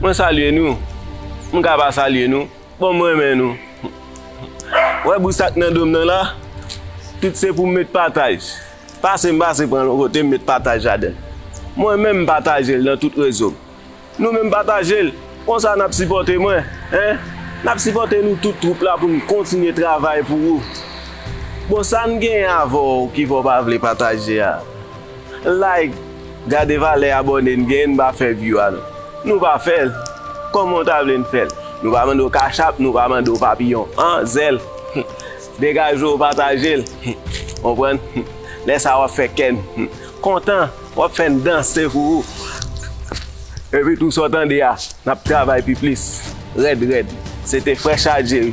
Mwen salye nou, m ka pa salye nou, bon m renmen nou. Wè bri sa k nan do m nan la, tout se pou m met pataj. Pase m pase pran l yon kote m met pataj ladan l. Mwen menm m pataje l nan tout rezo m. Nou menm pataje l, konsa n ap sipòte mwen, hein. N ap sipòte nou tout twoup la pou n kontinye travay pou ou. Bon sa n genyen avè w ki fè w pa vle pataje a? Like Gade valè abòne n gen n pa fè view a non Nou pa fèl Kòman w ta vle n fèl Nou pa mande w cash app nou pa mande w papiyon an zèl Humm degaje w pataje l Humm konprann Humm lè sa wap fè kè n Humm kontan Wap fè n danse pou ou Epi tou sa w tande a Nap travay pi plis Rèd rèd Se te frè chaje wi.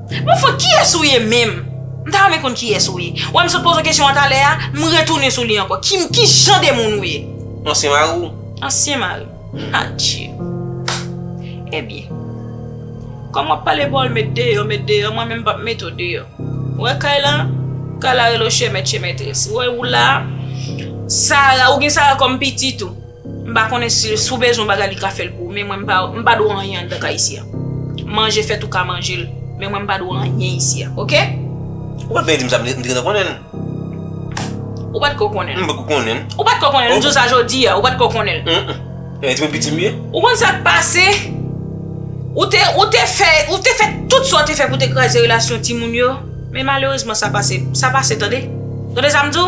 Bon fon kiyès ou ye menm? M ta renmen konn kiyès ou ye. Wè m sot poze w kesyon an talè a, m retounen sou li ankò. Ki m, ki jan de moun ou ye? Ansyen mari w? Ansyen mari m. Adye! Ebyen, kòm w ap pale bon l met deyò, met deyò, mwen menm m p ap mete w deyò. Ou wè kay la? Kay la rele w chè mèt chè mètrès. Ou wè ou la a? Sara, ou gen Sara kòm pitit ou. M pa konnen si si w bezwen yon bagay li ka fè l pou ou men mwen m pa m pa dwe anyen anndan kay isi a. Manje fèt ou ka manje l men mwen m pa dwe anyen isi a ok. Ou pa t vle di m sa m te gentan konnen l. Ou pa t ko konnen l. M pa t ko konnen l. Ou pa t ko konnen l m di w sa jodi a ou pa t ko konnen l. Eee ti moun piti m ye. Ou konn sa k pase ou te ou te fè ou te fè tout sa w te fè pou te kraze relasyon ti moun yo men malerezman sa pase sa pase tande. Tande sa m di w.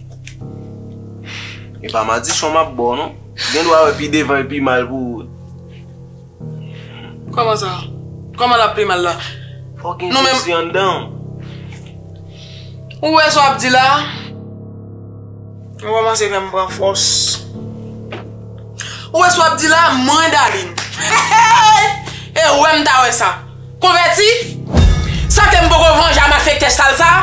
E pa madichon map bo non. Gen dwa wè pi devan e pi mal pou ou. Koman sa? Koman lap pi mal la? Fok gen jezi anndan ou. Ou wè sa wap di la? Ou komanse fè m pran fòs. Ou wè sa wap di la? Mwen Darline. Hey! E wè m ta wè sa? Konvèti? Sante m poko vanje a malfektè sal sa a?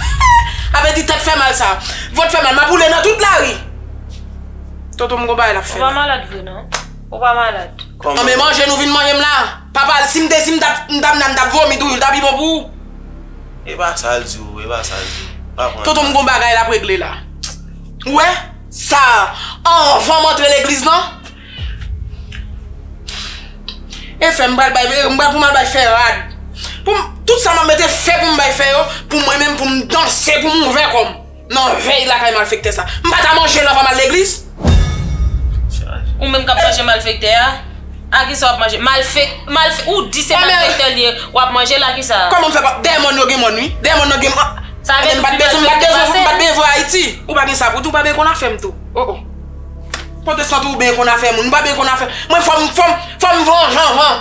Hee! Avè di tèt fè mal sa a. Vant fè mal. M ap woule nan tout lari. Tonton m gon bagay l ap fè la. Ou pa malad vre non. Ou pa malad. An men manje nou vin manje m la. Papa l si m te di m tap m tap nan m tap vomi toujou l ta pi bon pou ou. E pa sa l di w. E pa sa l di w. Pa pran l mal. Tonton m gon bagay l ap regle la. Ou wè? Sa a. Anvan m antre legliz lan. E fè m pral bay, m pral pou m al bay fè rad. Pou m, tout sa m ap mete fè pou m bay fè yo, pou mwen menm pou m danse pou m ouvè kò m nan vèy lakay malfektè sa. M pa ta manje l anvan m al legliz? Ou menm k ap manje malfektè a, a ki sa w ap manje? Malfek, malfe, ou di se malfektè li ye, w ap manje l a ki sa? Kòman m fè pa, dèyè mòn yo gen mòn wi. Dèyè mòn nan gen mòn. Sa vle di m pa t bezwen, m pa t bezwen, m pa t bezwen Ayiti. Ou pa gen sa pou di, ou pa bezwen konn afè m tou. O o. Potestan tou byen konn afè moun. M pa byen konn afè. Mwen fò m fò m fò m vanjan van.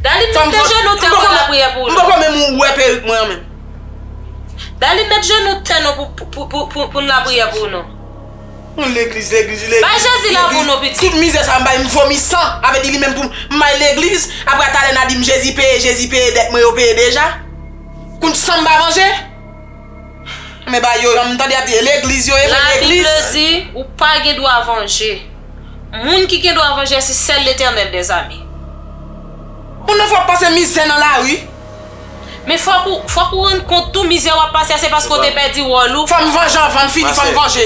Daline met de jenou tè fè lapriyè pou ou non. M poko menm wè perik mwen an menm. Daline met jenou tè non pou n lapriyè pou ou non. Mwen legliz legliz legliz. Bay Jezi lavi w non pitit. Tout mizè sa m bay m vomi san. A vle di li menm pou m bay legliz. Apre talè na di m Jezi peye Jezi peye dèt mwen yo peye deja. Kounj san m pa vanje. Men ba yo, m tande y ap di, legliz yo ye fè legliz. La Bible di, ou pa gen dwa vanje. Moun ki gen dwa vanje se sèl Letènèl mèzami. Moun nan fòk pase mizè nan lari. Men fòk ou, fòk ou rann kont tou mizè w ap pase a se paske w te pèdi wòl ou. Fò m vanje anvan m fini, fò m vanje.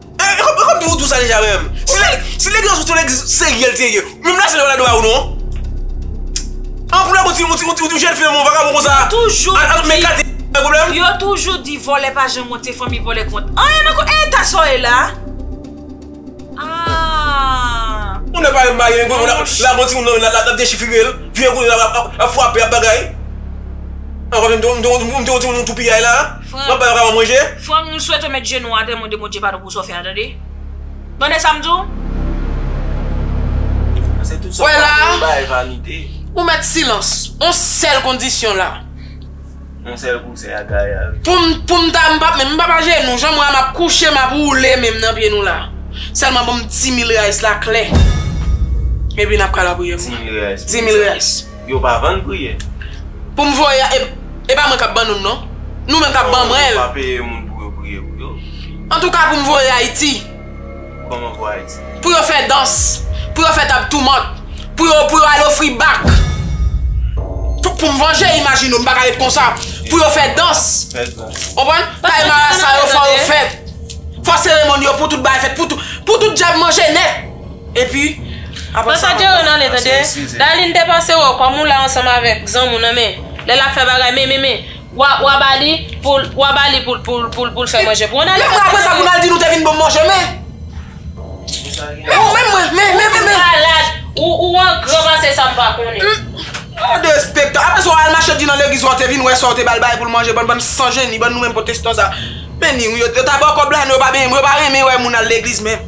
Ekomsi ou tou sa deja menm. Si legliz ou se yon legliz serye l te ye. Menm la sèl yo pa dwe ba ou non. An pou la ou ti jèn fi menm vakabon konsa. Al men kate bay pwoblèm. Yo toujou di vòlè pa janm wont se fanmi vòlè k wont. Anyen nan kont e eta sa w ye la. Ahh. Ou nan pa yon bagay menm la bon ti moun nan lap dechifire l. Vye kounye la ap fwape ap bagay. An pa menm m te wont ti moun ou tou piyay la. Wap bay yon kaka manje? Frèm nou swete met jenou atè mande bondye padon pou sa w fè a tande tande sam di w. Wè la ou mèt silans on sèl kondisyon la poum poum ta m pap menm pap ajenou janm wè a map kouche map woule menm nan pye nou la sèlman banm 10000 reais la klè epi nap ka lapriyè pou mwen 10000 reais. Yo pa vann priye. Pou m voye a e pa mwen kap ban nou non. Nou menm kap ban mwen. Yo pa peye moun pou yo priye pou yo. Antouka pou m voye Ayiti. Koman pou Ayiti? Pou yo fè dans. Pou yo fè tab toumant. Pou yo pou yo al ofri bak. Pou m vanje imajine ou m pa ka ret konsa. Pou yo fè dans. Fè dans. Ou konprann? Kay marasa yo fò yo fèt. Fò seremoni yo pou tout bagay fèt. Pou tout djab manje nèt. Epi aprè sa map pran yon aksyon desiziv. Darline depase wè w kòm ou la ansanm avèk zanmi w nan men lè lap fè bagay men men men wa ba li poul wa ba li poul poul poul poul fè manje pou ou nan li fè manje pou ou. Lè aprè sa pou nan li di nou te vin banm manje men ou menm mwen men men men men. Ou malad ou angran pase sa m pa konnen. Ou derespektan aprè sa w al mache di nan legliz wa w te vin wè sa w te bal bagay poul manje bann bann san jeni bann nou menm pwotestan sa men ni w yo ta ba w kòb la nou yo pa benyen mwen yo pa renmen wè moun al legliz menm.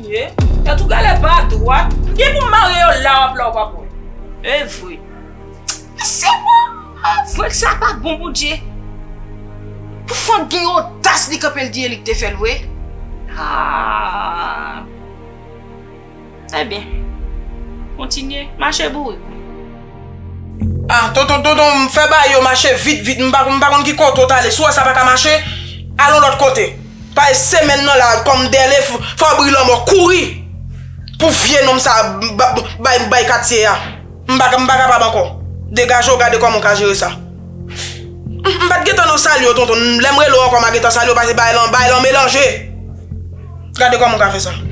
Ye, tèt ou gèlè pa dwat. M gen pou m marye yo la wap la ou pap wè. Evre. E se pa avwe k sa pa bon Bondye. Pou fanm gen odas li kanpe l di e li k te fè l vre. Haa. Ebyen. Kontinye. Mache bourik ou. Ah tonton tonton m fè bagay yo mache vit vit m pa konn ki kote ou t ale si w wè sa pa ka mache al yon lòt kote. Bay semèn nan la kòm dèle fabri lanmò kouri pou vye nonm sa bay katye a m pa kapab ankò degajew gade kòman w ka jere sa m pat gentan nan sal yo tonton lèm rele w ankò ma gentan sal yo pase bay lan bay lan melanje gade kòman w ka fè sa.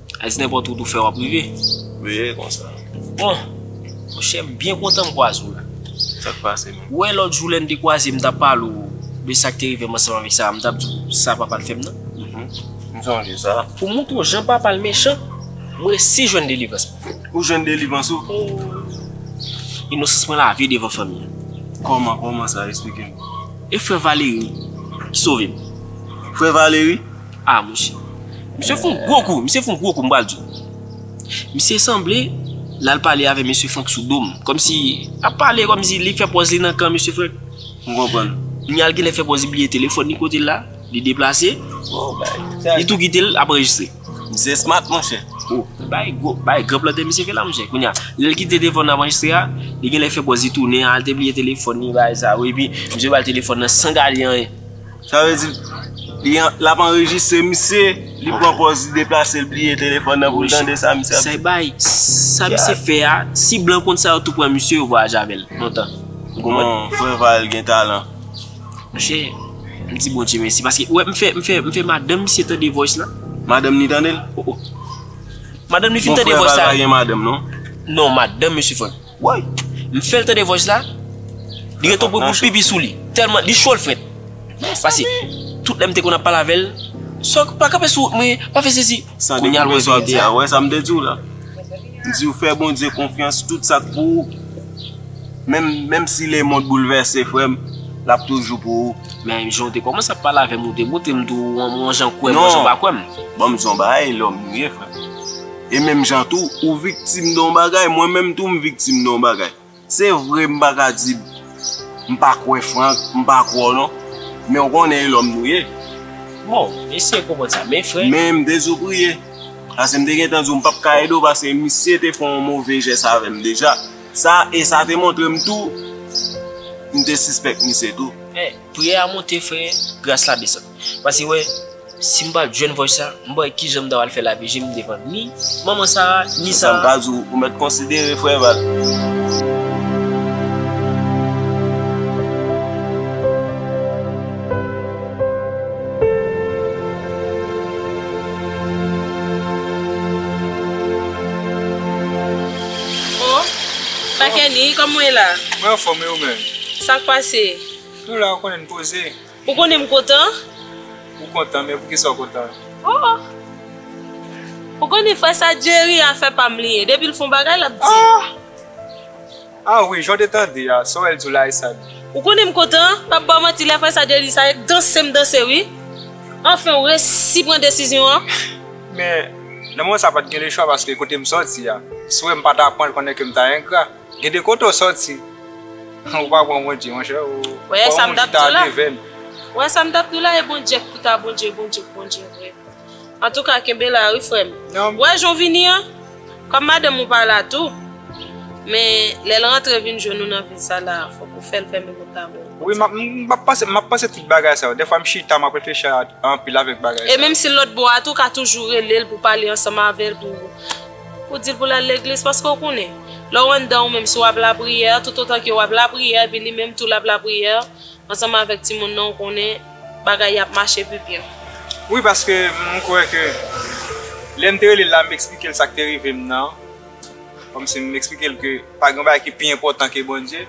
Ais nenpòt wout ou fè wap rive. Veye konsa. Bon. Monchè m byen kontan m kwaze w la. Sak pase menm? Ou wè lòt jou lè n te kwaze m tap pale w de sak te rive m ansanm avèk Sara m tap di w sa papa l fè m nan? M sonje sa. Pou m montre w jan papa l mechan, m resi jwenn delivrans mwen. Ou jwenn delivrans ou? Ohh. Inosans mwen lave devan fanmi an. Kòman, kòman sa? Esplike m. E frè Valéry ki sove m. Frè Valéry? Ah monche. Misye fon gwo kou, misye fon gwo kou m pral diw. Misye sanble lal pale avè mesye Frank sou dom. Komsi lap pale komsi li fè pòz li nan kan mesye Frank. M konprann. Kounyal genlè fè pòz li bliye telefòn li kotel la, li deplase, li tou kitel ap anrejistre. Misye smart monche. Oh, bagay gwo, bagay gran plantè misye fè la monche. Kounya lèl kite telefòn nan ap anrejistre a, li genlè fè pòz li tounen al te bliye telefòn li bagay sa wi epi misye bal telefòn nan san gade anyen. Sa vle di l ap anrejistre misye, li pran pòz li deplase l bliye telefòn nan pou l tande sa misye ap di. Saybay, sa misye fè a, si blan konn sa yo tou pran misye yo vwayaje avè l lontan. Ou konprann? Non, frè Val gen talan. Monchè, m di Bondye mèsi paske ou wè m fè, m fè, m fè madanm misye tande voice la. Madanm li tande l? Madanm li fin tande voice la. Bon frè Val pa gen madanm non? Non, madanm misye fè. Woy! M fèl tande voice la, li gen ton pwen pou l pipi sou li. Tèlman, li cho l frèt. Pase, tout lè m te konn ap pale avè l, Sòk, pa kanpe sou wout mwen, pa fè sesi. Kounye a l wè verite a. Ou wè sa m te di w la? M di w fè Bondye konfyans, tout sa k pou ou, menm, menm si lemond boulvèse frè m, l ap toujou pou ou. Men, jan w te kòmanse ap pale avè m, ou te montre m tou yon jan kwè m yon jan pa kwè m. Non, ban m di w yon bagay, lòm m ye frè m. E menm jan tou, ou viktim de yon bagay, mwen menm tou m viktim de yon bagay. Se vre m pa ka di m pa kwè Franck, m pa kwè w non. Men ou konnen e lòm nou ye. Bon, m eseye konprann sa. Men frè. Men m te di w priye. Pase m te gen tan di w m pap ka ede w pase misye te fè yon move jès avè m deja. Sa, e sa te montre m tou m te sispèk misye tou. Men, priyè a monte frè, gras la desann. Pase wè, si m pa t jwenn vòj sa, m pa wè ki jan m ta pral fè lave je m devan ni manman Sara, ni Sara. Sa m ka di w, ou mèt konsidere frè Val. O! Makèni, kòman w ye la? Mwen anfòm, e ou menm? Sa k pase? M tou la, ou konnen, m poze. Ou konnen m kontan? Ou kontan men poukisa ou kontan? Oh! Ou konnen fwa sa Jerry a fè pa m li ye, depi l fon bagay l ap di. Ah! Ah wi, jan w te tande a, sa w wè l di w la e sa l ye. Ou konnen m kontan? M pap ba w manti lè fwa sa Jerry sa ye, danse m danse wi. Anfen w resi pran desizyon an. Men, nan moman sa pa t gen lechwa paske kote m sòti a, si w wè m pa ta pran l konnen ke m ta engra. Gen de kote ou soti. Ou pa pran Bondye monchè ou Wè sa m tap di w la Wè sa m tap di w la e Bondye ki ta Bondye Bondye k Bondye vre Antouka kenbe la wi frè m Wè jan w vini an Kòm madanm ou pa la tou Men lè l rantre vin jwenn ou nan vil sa la fòk ou fè l fèmen pòt la pou ou Wi m ap panse m ap panse tout bagay sa yo Dèfwa m chita m ap reflechi anpil avèk bagay sa yo E menm si l lòtbò a tou ou ka toujou rele l pou w pale ansanm avè l pou Ou dil pou lal legliz paske ou konnen lèw anndan ou menm si wap lapriyè tout otan ke wap lapriyè epi li menm tou lap lapriyè ansanm avèk timoun nan ou konnen bagay yo ap mache pi byen. Wi paske m kwè ke lèm te relel la m eksplikel sak te rivem nan kòmsi m eksplikel ke pa gen yon bagay ki pi enpòtan ke Bondye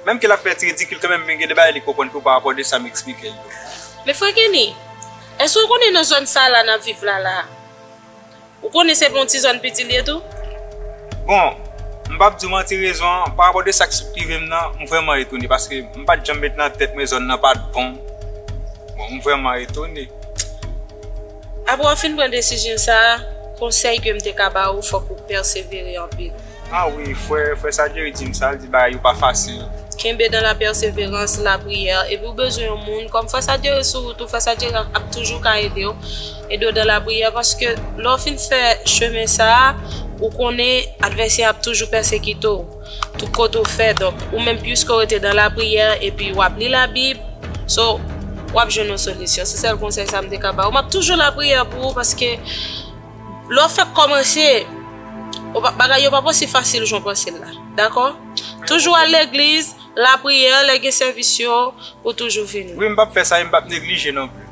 menm ke lap fè ti ridikil kanmenm men gen de bagay li konprann tou parapò de sam eksplikel yo. Men frè Kenny, èske ou konnen nan zòn sa la nap viv la la, Ou konnen se pou yon ti zòn piti li ye tou? Bon, m pap di w manti rezon an, parapò de sa k sot rive m nan, m vrèman etone paske m pat janm met nan tèt mwen zòn nan pat bon. Bon, m vrèman etone. Apre w fin pran desizyon sa a, konsèy ke m te ka ba ou fòk ou pèsevere anpil. Ah wi, frè, frè sa Jerry di m sa, l di bagay yo pa fasil. Kenbe dan la pèseverans, lapriyè, epi ou bezwen yon moun, kòm frè sa Jerry sou wout ou, frè sa Jerry ap toujou ka ede w. Ede w dan lapriyè paske lè w fin fè chemen sa a, ou konnen advèsè ap toujou pèsekite w tout kote ou fè donk ou menm piske w rete dan lapriyè epi wap li labib so wap jwenn yon solisyon se sèl konsèy sa m te ka ba w map toujou lapriyè pou ou paske lè w fèk kòmanse bagay yo pap osi fasil jan w panse l la dakò toujou al legliz lapriyè lè gen sèvis yo ou toujou vini. Wi m pap fè sa e m pap neglije non plis.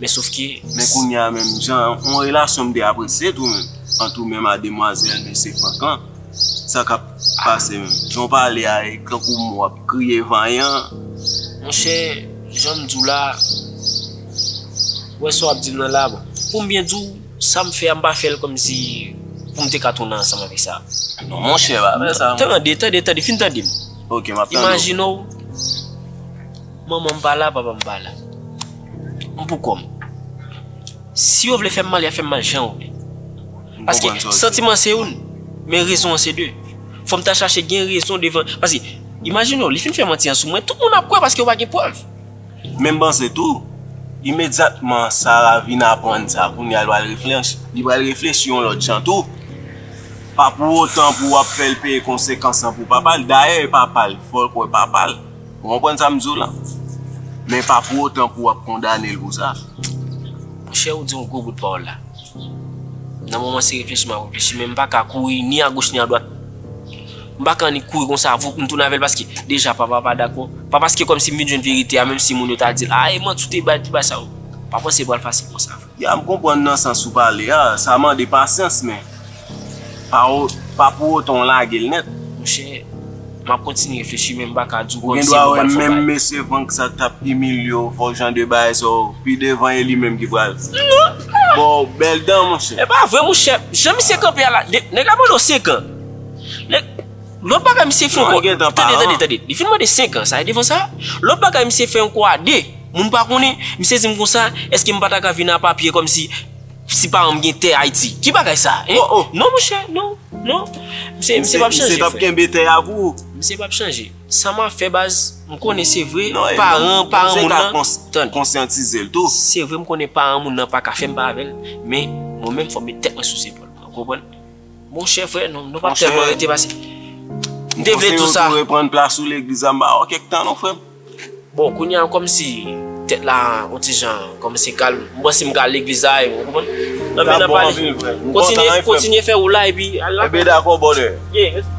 Men sof ke. Men kounye a menm jan yon relasyon m te apresye tou menm ant ou menm a demwazèl mesye Frank lan. Sa k ap pase menm? Jan w pale a e tankou m w ap kriye vanyan. Monchè, jan m di w la, ou wè sa w ap di m nan la, bon, pou m byen di w, sa m fè a m pa fè l kòmsi pou m te ka tounen ansanm avèk sa. Non monchè, pa fè sa. Tande, tande, tande, fin tande m. Ok, m ap tande w. Imajine w. Manman m pa la, papa m pa la. M pou kò m. Si yo vle fè m mal, y ap fè m mal jan yo vle. Paske, santiman an se youn, men rezon an se de. Fò m ta chache gen rezon devan. Paske, imajine w, li fin fè manti an sou mwen, tout moun ap kwè paske yo pa gen prèv. Men m panse tou, imedyatman Sara vin aprann sa, kounye a li pral reflechi. Li pral reflechi yon lòt jan tou. Pa pou otan pou w ap fè l peye konsekans lan pou papa l. Dayè, e papa l. Fò l kwè papa l. Ou konprann sa m di w la? Men pa pou otan pou w ap kondane l pou sa. Monchè ou di yon gwo bout pawòl la. Nan moman se reflechi m ap reflechi men m pa ka kouri ni agoch ni adwat. M pa ka annik kouri konsa voup m tounen avè l paske deja papa pa dakò. Pa paske kòmsi m vin jwenn verite a menmsi moun yo ta di l, a e manti w te bay pou bay sa yo. Pa panse l pral fasil konsa vre. Ya m konprann nan sans ou pale a, sa mande pasyans men pa pou otan w lage l nèt. Monchè, m ap kontinye reflechi men m pa ka di w kòmsi m konn bat fò kay. Ou gen dwa wè menm mesye Vank sa k t ap imilye w fè w jan de bagay sa yo, pi devan e li menm ki pral ba w bèl dan monchè. E pa vre monchè, jan misye kanpe a la, nèg la pran nou 5 an. Lòt bagay misye fè ankò, tande tande tande, li fin mande 5 an sa e devan sa, lòt bagay misye fè ankò a 2, moun pa konnen, misye di m konsa, èske m pa ta ka vin a papye kòm si, si paran m gen tè Ayiti? Ki bagay sa a? Hein? Non monchè, non, non. Misye, misye pap chanje frè. Misye tap kenbe tè a pou ou. Misye pap chanje. Sa map fè baz, m konnen se vre, paran, paran moun nan, tande. Ou konsyantize l tou. Se vre m konnen paran moun nan pa ka fè m pa avè l, men mwen menm fò m met tèt mwen sou zepòl mwen, ou konprann? Mon chè frè nou, nou pa tèlman rete pase. M te vle tou sa. M konseye w tou reprann plas ou legliz la m pa wè w kèk tan non frè m. Bon kounye a kòm si tèt la on ti jan kòmanse kalm. M panse m ka al legliz la avè w, ou konprann? Nan men nan pale. Kontinye, kontinye fè woul la epi al la. Enben dakò brother. Ye, mèsi.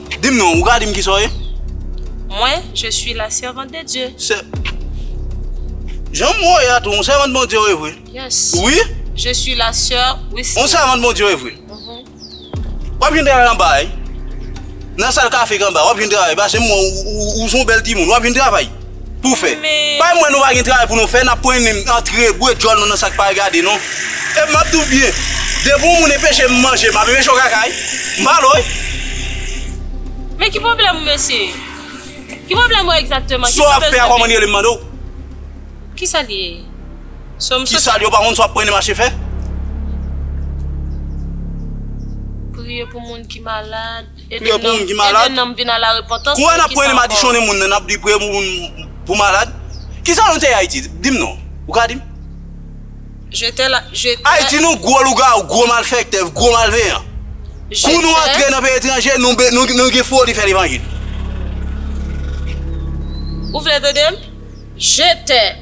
Dim non, ou ka dim kisa w ye? Mwen, je suis la servante de Dieu. Sè, janm wè w ye a tou, yon sèvant Bondye w ye vre? Yes. Wi? Je suis la soeur Wisny. Yon sèvant Bondye w ye vre? Ou ap jwenn travay anba a wi. Nan sal kafe k anba a, ou ap jwenn travay, pase m wè w, ou se yon bèl timoun, ou ap jwenn travay. Pou fè. Bay mwen nou pa gen travay pou nou fè nap pran nen antre bwe djòl nou nan sak pa regade nou. Epi map diw byen depi yon moun enpeche m manje map enpeche w kaka wi. M pa lo wi. Men ki pwoblèm ou mesye? Ki pwoblèm ou egzakteman? Sa w ap fè a kòman li rele m mande w? Kisa li ye? Sa w m sot. Kisa li ye ou pa konn sa w ap pran nen mache fè? Priye pou moun ki malad. Priye pou moun ki malad. Kou a n ap pwene madichonnen moun nan, n ap di priye pou moun pou malad. Ki sa nou te ye Ayiti? Di m non. Ou ka di m? Ayiti nou gwo lougawou, gwo malfèktè, gwo malveyan. Kou nou antre nan peyi etranje, nou gen foli fè levanjil. Ou vle tande m? Je tè.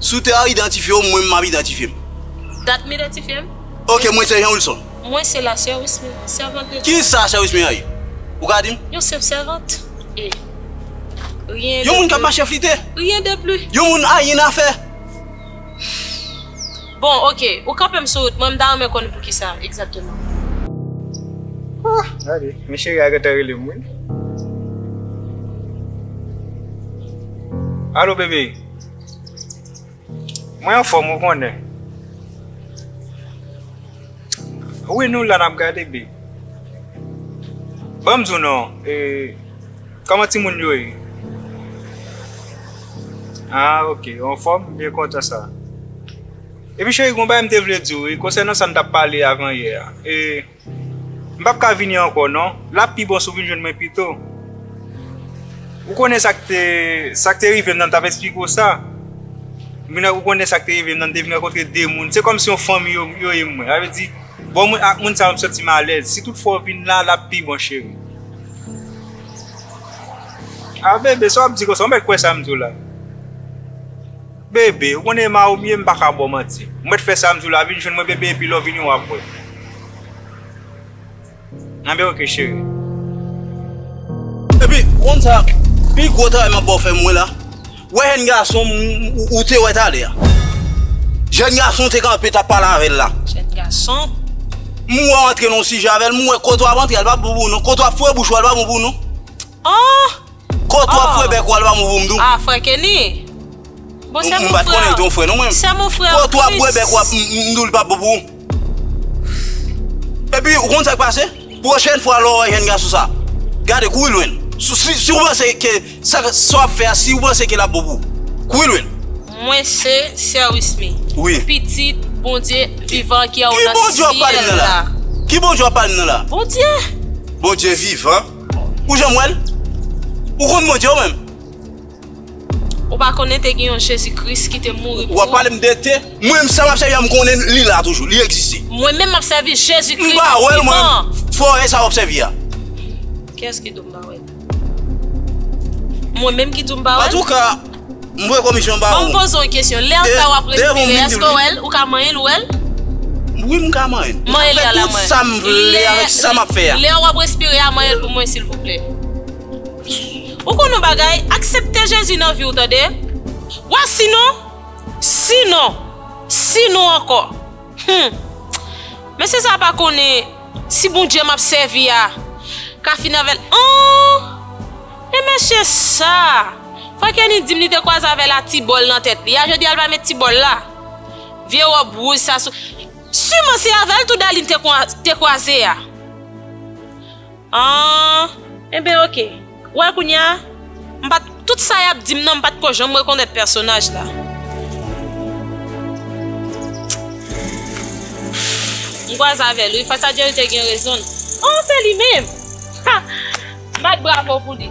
Si w ta idantifye w, mwen menm m ap idantifye m. Dat m idantifye m? Ok, mwen se Jean Wilson. Mwen se lasè Wismina, sèvant de Dieu. Ki sa sè Wismina ye? Ou ka di m? Yon senp sèvant. E. Rien de plus. Yon moun k ap mache flite? Rien de plus. Yon moun anyen nan fè? Bon ok, ou kanpem sou rout mwen m ta renmen konn poukisa exactement. Ohh gade men cheri a gentan relem wi. Allo bebe Mwen anfom ou konnen. Wi nou la nap gade be. Banm diw non e Koman timoun yo ye ah ok yo anfòm m byen kontan sa Epi cheri gon bagay m te vle diw wi konsènan sa n tap pale avan yè a e m pap ka vini ankò non lap pi bon si w vin jwenn mwen pito Ou konnen sa k te rive m nan, m t ap esplike w sa. Ou konnen sa k te rive m nan, m te vin rankontre de moun. Se kòmsi yon fanmi yo ye mwen. Sa vle di, bon mwen ak moun sa yo m santi m alèz. Si tout fwa w vin la, l ap pi bon cheri. A Bebe, sa w ap di konsa? Ou mèt kwè sa m di w la. Bebe, ou konnen Ema ou m ye, m pa ka ba w manti. Ou mèt fè sa m di w la. Vin jwenn mwen Bebe epi lè w vini w ap wè. Nan bèw ke cheri. Epi ou konn sa pi gwo travay map baw fè mwen la wè jèn gason ou te wè talè a jèn gason ou te kanpe tap pale avèl la jèn gason m wè w antre nan yon sijè avèl m wè kote wap antre a li pa bon pou ou non kote wap fwe bouch ou a li pa bon pou ou non ohh kote wap fwe bèk ou a li pa bon pou m tou ah frè Kenny bon sèm ou frè sèm ou frè an plis kote wap bwe bèk ou a m tou li pa bon pou ou. Epi ou konn sak pase? Pwochèn fwa lè w wè jèn gason sa, gade kouri lwen l. Si ou panse ke sa w ap fè a, si ou panse ke l ap bon pou ou, kouri lwen l. Mwen se sè Wismy. Wi. Pitit Bondye vivan ki anwo nan syèl la. Ki Bondye w ap pale m nan la? Ki Bondye w ap pale m nan la? Bondye. Bondye vivan? Ou janm wè l? Ou konn Bondye ou menm? Ou pa konnen te gen yon Jezi Kris ki te mouri pou ou? Wap pale m de te? Mwen menm sa map sèvi a m konnen li la toujou, li egziste. Mwen menm map sèvi Jezi Kris vivan an. M pa wè l mwen menm, fòrè sa wap sèvi a. Kiyès ki di w m pa wè l? Mwen menm ki di w m pa wè l? Antouka, m voye komisyon ba ou. Bon m poze w yon kesyon, lè sa wap respire a èske w wè l? Ou ka manyen l, ou wè l? Wi m ka manyen l. Manyen l la mwen. M ka fè tout sa m vle avèk sa map fè a. Lè wap respire a manyen l pou mwen silvouplè. Ou konn yon bagay, aksepte Jezi nan viw tande. Wa sinon, sinon, sinon ankò. Humm. Mesye sa pa konnen si Bondye map sèvi a ka fini avèl humm. E mesye sa. Fwa Kenny dim li te kwaze avè la ti bòl nan tèt li a jodi a li pa met ti bòl la. Vye rob rouj sa sou Siman se avèl tou Darline te kwaze a. Ahh enben ok ou wè kounya m pat tout sa yap dim nan m pat ko janm rekonèt pèsonaj la m kwaze avèl wi fas a Dye li te gen rezonl oh se li menm ha m bat bravo pou li.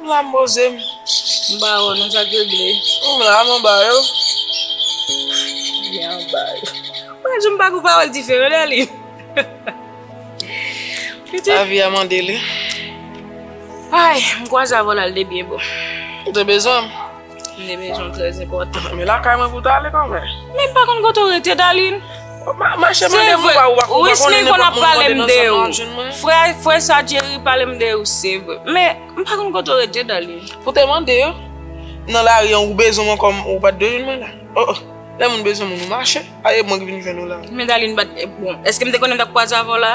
M la m poze m. M ba ou nan sa k regle. Ou m la m anba yo. Byen anba yo. Ou pa janm pa gen yon pawòl diferan lè li. Pitit. Lavi a mande li. Ay m kwaze avè w l al de byen bon. Ou te bezwen m. Mne men jan trèz enpòtan. Men lakay mwen pou tale kan mè. Men pa konn kote ou rete Dalin. Ma chè mwen de mou ba ou bak ou bak ou ne mou mou mou de nan sa nan joun mwen. Frè frè sa Jerry pale mde ou se vre. Men m pa konn kote ou rete Dalin. Pou te mande yo. Nan la ri an ou bezwen mwen kòm ou pat de joun mwen la. O o. Lè moun bezwen moun ou ma chè. A e mwen ki vin jwenn ou la. Men Dalin bat e bon. Eske m te konnen m tap kwaze avè ou la.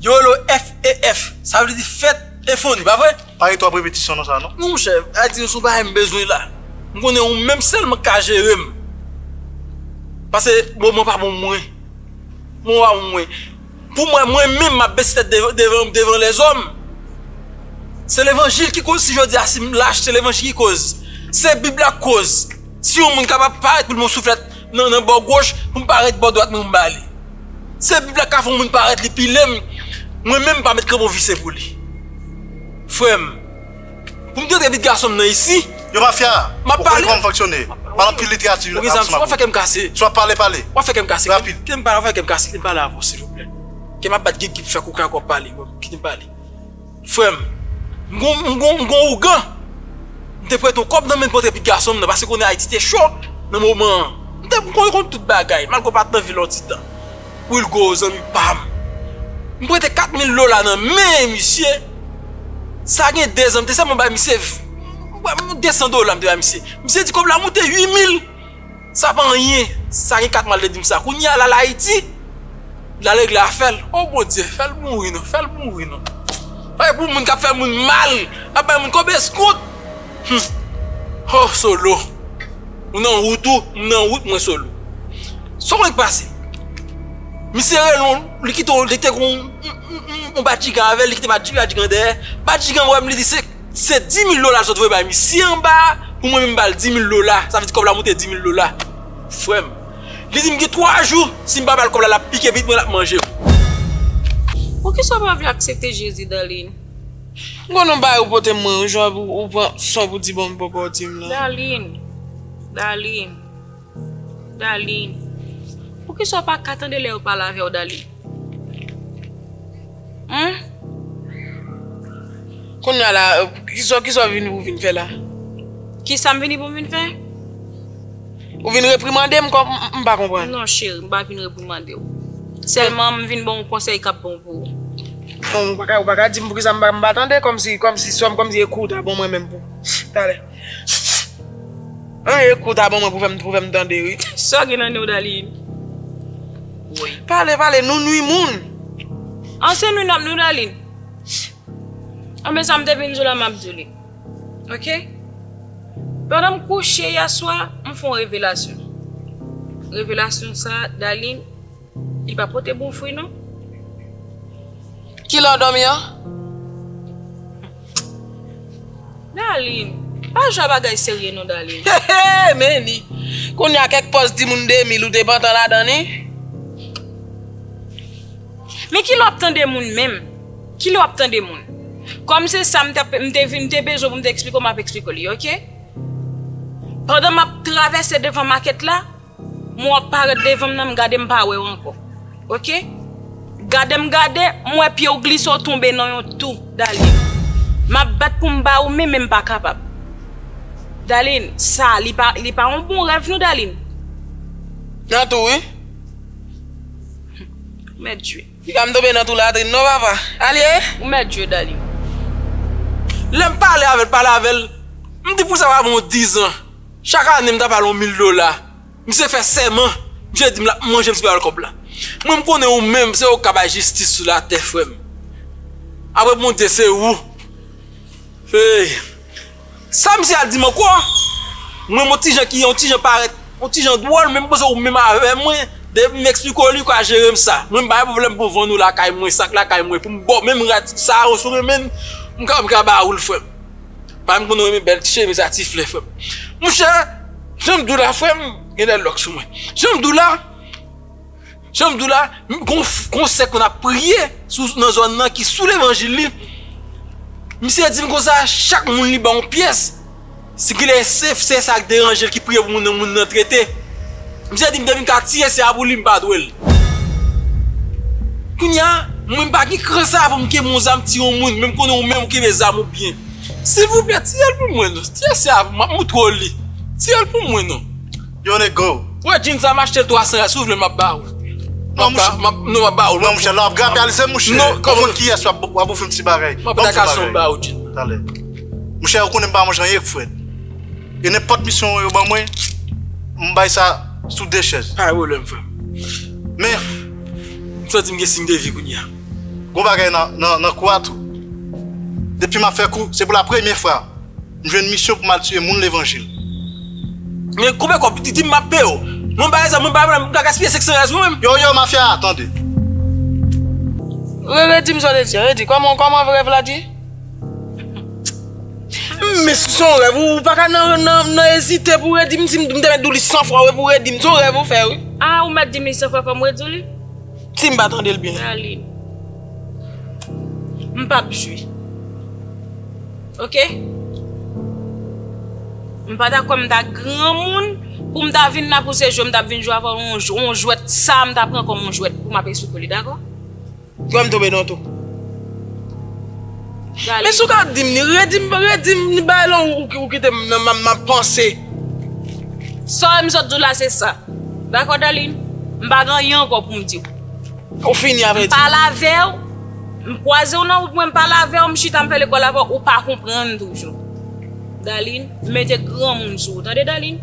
Yolo FEF sa vle di fèt e foni pa vre? Pa gen 3 prepetisyon nan sa non. Non monchè, a di nou son bagay m bezwen la. M konnen ou menm sèlman k ka jere m. Pase moman pa bon pou mwen. Moman pa bon pou mwen. Pou mwen, mwen menm m ap bese tèt devan devan lèzòm. Se levanjil ki koz si jodi a si m lach se levanjil ki koz. Se bib la k koz. Si yon moun kapab parèt pou l bon souflèt. nan nan bò goch pou m parèt bò dwat mwen m ba li se bib la k ka fè yon moun parèt li pile m mwen menm m pa met kranpon vise pou li frè m pou m trete vit gason m nan isi Yon mafya, m ap ou konnen pale kòman m fonksyone m ap anpil literati ou gen zam sou m apre ou si w ap pale pale w ap fè kè m kase rapid kite m pale avè w silvouplè kè m ap bat gigib fè koka kò pale kite m pale. Frè m, m gon ougan. M te prete yon kòb nan men l pou antre pi gason m nan paske konnen Ayiti te cho nan moman an. M te konnen konn tout bagay malgre w pa t nan vil Òditàn. Wilgo, zanmi pa m. M prete kat mil dola nan men misye. Sa gen dezan m te sèlman bay misye desan dola m te bay misye. Misye di kòb la moute ui mil. Sa pa anyen, sa gen 4 mwa l te di m sa. Kounye a l al Ayiti, l al regle afè l. O Bondye, fè l mouri non, fè l mouri non. Bay pou moun k ap fè moun mal, l ap bay moun kob eskout. Humm! O Solo, ou nan wout ou, m nan wout mwen Solo. Sa w konnen k pase? Misye rele w, li kite w, li te gen yon badjigan avè l, li kite badjigan dèyè. Badjigan an wè m, li di se. Se 10000 dola zòt voye bay misye anba pou mwen menm bal 10000 dola sa vle di kòb la moute 10000 dola frèm li dim gen 3 jou sim pa bal kòb la lap pike pitit mwen lap manjem. Poukisa ou pa vle aksepte Jezi dan Lynn? M konn yon bagay ou pote mwen yon jou apre ou pran son pou di banm papa w di m lan. Darline! Darline! Darline, poukisa w pa ka tande lè yo pale avè w Darline? Humm. Kounya la, kisa w vini pou w vin fè la? Kisa m vini pou m vin fè? Ou vin reprimande m kòm, m pa konprann. Non cheri, m pa vin reprimande w. Sèlman m vin ban w konsèy k ap bon pou ou. Bon, ou pa ka di m poukisa m pa tande, kòmsi sa w ta bon mwen menm pou talè. An e kout a ban mwen pou fèm tande wi. Sa gen nan Nourdalin. Woy. Pale pale nou nwi moun. An se nou nap Nourdalin. An men sa m te vin diw la map diw li. Ok. Pandan m kouche yè swa m fon revelasyon. Revelasyon sa Dalin. Li pa pote bon fwi non. Kilè w dòmi an? Darline, pa jwe a bagay serye non Darline. Heheh men li. Kounya kèk pòz ti moun 2000 ou te pantan ladan li. Men kilè wap tande moun menm? Kilè wap tande moun? Kòm se sa m te bezwen pou m te eksplike w map eksplike w li ok. Pandan map travèse devan makèt la. Mwen wap paret devanm nan m gade m pa wew anko ok gadem gade m we pyew glise w tonbe nan yon tou Darline map bat poum ba ou men men m pa kapab Darline sa li pa li pa yon bon rèv non Darline. Nan tou wi. Ou mèt jwe. Li pa m tonbe nan tou latrin non papa. Alye. Ou mèt jwe Darline. Lem pale avel pale avel m di pou sa pa bon 10 ans. Chak ane m ta ba l yon mil dola. Misye fè sèman, misye di m l ap manje misye pa ba l kòb la. Mwen m konnen ou menm se ou k ka bay jistis sou latè frè m. Apre Bondye se ou. Hey! Sa misye a di m ankò? Mwen m yon ti jan ki yon ti jan parèt yon ti jan dwòl men m panse ou menm avè mwen depi m esplike w li ou ka jere m sa. Mwen m pa gen pwoblèm pou m vann ou lakay mwen, sak lakay mwen pou m ba w menm rad sa a ou sou renmen m, m ka ba ou l frè m. Pami moun renmen bèl ti cheve sa ti flè frèm. Monchè, janm diw la frèm, gen de lòk sou mwen. Janm diw la, janm diw la, gon sè konn ap priye nan zòn nan ki sou levanjil li. Misye dim konsa, chak moun li ban yon pyès. Si genlè se sè sa ki deranje l ki priye pou moun nan, moun nan trete. Misye dim depi m ka tiye se a pou li m pa dwel. Kounya mwen pa gen kran sa poum kenbe yon zam tiye yon moun menm konnen ou menm ou kenbe zam ou byen silvouplè tiyel pou mwen non tiye se a pou map moutre w li tiyel pou mwen non. Yo nèg gou. Wè jean sa m achte l 300 ya si w vle map ba ou non map ba ou non mouche lap grape al ze mouche non ou konn kiyès wap ofri m ti bagay banm ti bagay mouche ou konnen m pa manje anyen k fret. E nenpòt misyon yo ban mwen, m bay sa sou de chèz. Pa gen pwoblèm, frè m. Men. M santi m gen siy de vi kounye a. Gen yon bagay nan kou a tou. Depi m ap fè kou, se pou lapremye fwa m jwenn misyon pou m al tiye moun levanjil. Men, konbyen kòb? Di m, m ap peye w. Mwen bay zam, mwen bay bagay, m pa gaspiye sèk san rès mwen menm. Yo, yo, mafya a, tande. Rere, di m sa w te di a. Rere, di, kòman, kòman rèv la di? Men si son rèv ou pa ka nan nan ezite pou redi m si m te mèt di w li 100 fwa wi pou redi m son rèv ou fè wi. A ou mèt di m li 100 fwa fò m redi w li? Si m pa tande l byen. Aline. M pa p jwe. Ok. M pa dakò m ta granmoun pou m ta vin la pou se jwe m ta vin jwe avè w yon jwèt sa m ta pran kòm yon jwèt pou m ap eswoupe li dakò. Frèm tonbe non tou. Men sou ka dim ni redim redim ni bay lon ou kitem nan map panse. Sam sot diw la se sa. Dako Darline, m pa gen anyen anko poum diw. Ou fini a vredi. M pale avew, m kwazew nan wout mwen m pale avew, m chita m fè lekol avew ou pa konprann toujou. Darline, m mete granmoun sou ou tande Darline.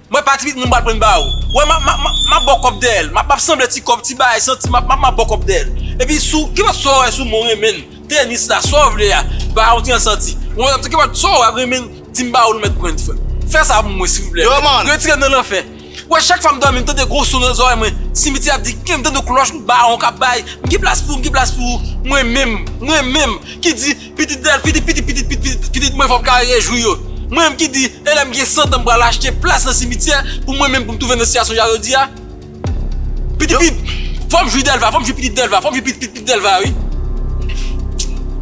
Mwen pa tipit moun pral prann ba ou wè map map map map baw kòb dèyèl map map sanble ti kòb ti bagay santi map map map baw kòb dèyèl epi sou kipòt sa wè sou mwen renmenn tenis la sa w vle a ba yon ti an santi mwen wè kipòt sa wè renmenn dim ba ou nou mèt prann frèm fè sa pou mwen silvouplè retirem nan lanfè wè chak fwa m dòmi m tande gwo son nan zòrèy mwen simiti ap di kèm tande klòch ba ou kap bay m gen plas pou ou m gen plas pou ou mwen menm mwen menm ki di Pitit Del, pitit pitit pitit pit pitit pitit mwen fòm ka rejwi yo. Mwen menm ki di e lèm gen 100 tan m pral achte plas nan simityè pou mwen menm poum twouve nan sitiyasyon ja yo dia. Pitit pit fòm jwi Delva fòm jwi pitit Delva fòm jwi pitit pit pit Delva wi.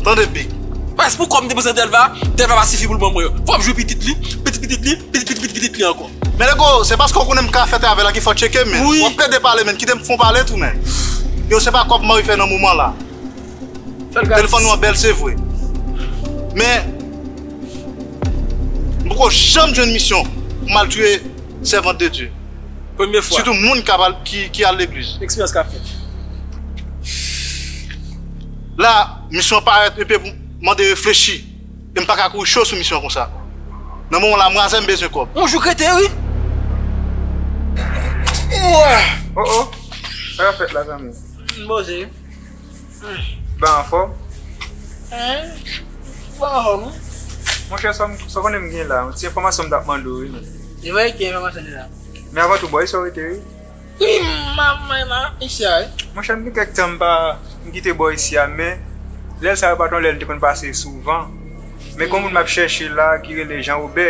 Tande big. Pwès pou kòb m depanse nan Delva, Delva pa sifi poul ban mwen yo. Fòm jwi pitit li, pitit pitit li, pitit pitit pitit pitit li ankò. Men Lego, se paske ou konnen m ka fè travy la ki fè w tcheke men. Wap plede pale men, kite m fon pale tou men. Yo se pa kòb mari fè nan moman la. Telefon nou an bel se vre. Men, m poko janm jwenn misyon pou mal touye sèvant de Dye. Premye fwa. Sitou moun ki al legliz. Eksperyans ka fèt. La, misyon an parèt enpe pou mande reflechi. E m paka kouri cho sou misyon an konsa. Nan moman la, mwaze m bezwen kòb. Yon jou krete wi. Ooh! Oh oh! Sa ka fèt la zanmi? M poze. Ba anfòm? Ou pa anfòm non. Monchè sa ou konnen m gen la? Yon ti enfòmasyon m t ap mande w wi menn. E bay ki enfòmasyon deja? Men avan tou, bò isi w rete wi? Wi, m ap m a isi a wi. Monchè m gen kèk tan m pa m kite bò isi a men, lè sa yo pa t yon lè m te konn pase souvan. Men gen yon moun m ap chèche la ki rele Janwobè.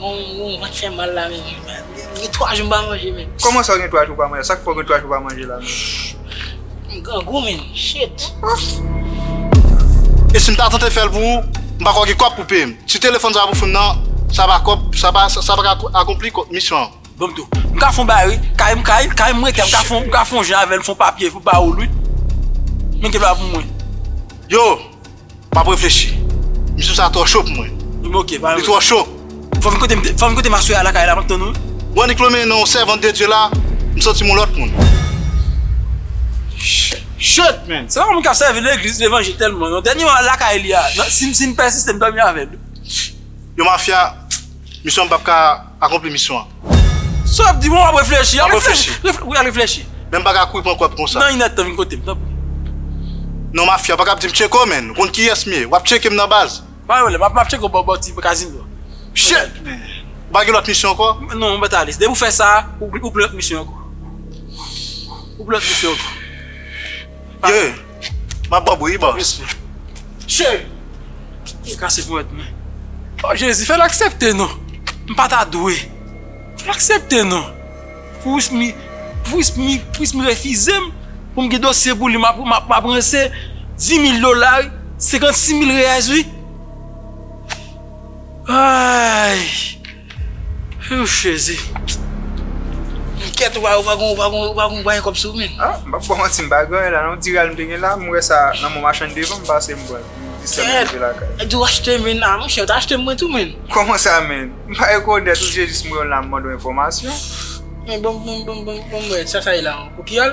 Mwen pat fè mal la menm ui. M gen 3 jou m pa manje menm. Koman sa w gen 3 jou w pa manje la? Sa k fè w gen 3 jou w pa manje la menm? M grangou menm. Shit! E si m ta tante fè l pou ou, m pa kwè w gen kòb pou peye m. Si telefòn sa pou fon nan, sa pa kòb, sa pa ka akonpli misyon an. Bobdo, M ka fon bagay wi. Kay m kay, kay m rete, m ka fon, m ka fon jan avè l, fon papye pou ba ou l wi. Men gen dwa pou mwen. Yo! Map reflechi. Misye sa tro cho pou mwen. M ok pa. Li tro cho. Fom kote m fom kote ma soeur a lakay la map tann ou. Bon Niclo men non servante de Dieu la m santim yon lot moun. Shitt man. Se pa moun kap servi legliz levanjil telman non dènye mwa lakay li a sim pèsiste m domi avèl. Yon mafya misye an m pap ka. akonpli misyon an. Sa wap di bon wap reflechi. Wap reflechi. Wi al reflechi. Men m pa ka kouri pran kwèp konsa. Nan inèd tan vin kote m tanpri. Non mafya ou pa ka ap di m tcheko menn. Ou konn kiyès m ye. Wap tcheke m nan baz. Pa gen pwoblèm. Map tcheke w bò ti kazino an. Pchee! Ou pa gen lòt misyon ankò? Non mèt Alis. Depi ou fè sa a, ou pou lòt misyon ankò. Ou pou lòt misyon ankò. Yee! Map ban bri wi boss. Mesi. Cheri! Ou kase ponyèt mwen. Oh Jezi fèl aksepte non. M pa ta dwe. Fèl aksepte non. Pwismi pwismi pwismi refizem poum gen dosye pou li map map ranse 10000 dola wi 56000 reais wi. Ayy Whew jezi M kèt ou pa ou pa gon ou pa gon ou pa gon gwany kòb sou ou menm. Ah m pap baw manti m pa gen anyen la non diral m te gen la m wè sa nan mon machann devan m pase m pranl m distrèm m rive lakay. Kèt ou achte menn ah monchè ou ta achte mwen tou menn. Kòman sa menn? M pa rekonèt ou se jis m wè w la m mande w enfòmasyon. Men banm banm banm banm banm wè sa sa ye la an? Ou ki al?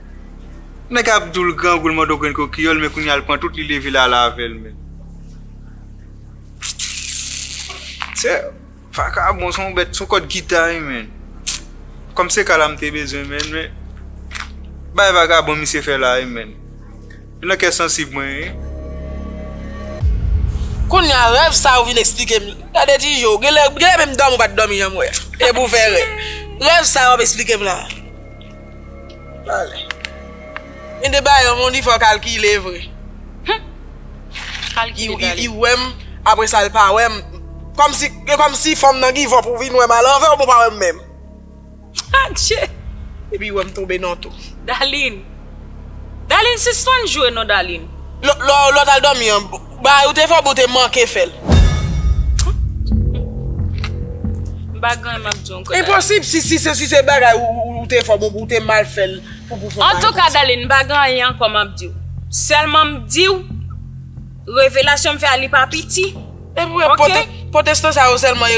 Nèg ap doul grangoul mando grenn kokiyol men kounya l pran tout li leve l al avèl men se vakabon son bèt son kòd gita wi men kòm se kala m te bezwen men men bay vakabon misye fè la wi men se nan kè sansib mwen ye. Kounya rèv sa ou vin esplike m gade ti je w genlè menm dòmi ou pat dòmi jan m wè e pou fè rèv sa wap esplike m la. Pale. Men de bagay yon moun li fò kalkile vre. Humm kalkile pale. Li wèm apre sa li pa wèm. Kòmsi e kòmsi fanm nan give up ou vin wèm a lanvè ou bon pa wèm menm. Adje. Epi wèm tonbe nan tou. Daline. Daline sispann jwe non Daline. Lè w al dòmi an. Bagay ou te fè bon ou te manke fè l. M pa gen anyen map di w anko Daline. Enposib si si se bagay ou te fè bon ou te mal fè l pou pou fè w pa reprann sa. Antouka Daline m pa gen anyen anko map di w. Selman m di w revelasyon m fè a li pa piti. Ebyen potestan sa yo selman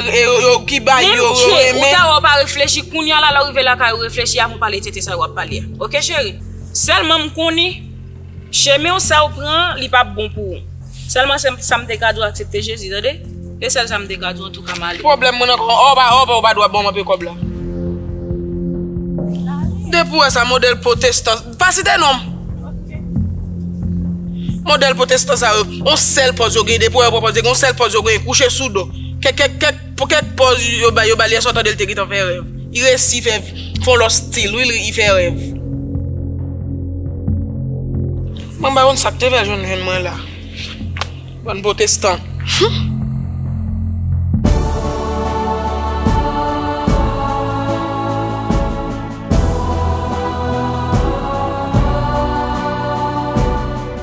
ki bay yo yo renmen. Menm ke ou ta wè ou pa reflechi kounya la lè w rive lakay ou reflechi avan w pale tete sa yo wap pale a. Ok cheri. Selman m konnen. Chemin w sa ou pran an li pap bon pou ou Selman se sa m te ka di w aksepte Jezi tande Se sèl sa m te ka di w antouka m ale. Pwoblèm mwen nan kòman oba oba ou pa dwa banm anpe kòb la. Depi ou wè sa modèl potestan pa site nom modèl potestan sa yo on sèl pòz yo gen depi ou wè yo pran pòz yo gen on sèl pòz yo gen kouche sou do kèkèkèk. Pou kèk pòz yo bay yo bali esou tandel te gentan fè rèv I resi fè fon lòt stil wi li I fè rèv. Mwen pa konn sak te fè jwenn jwenn mwen la bann potestan humm.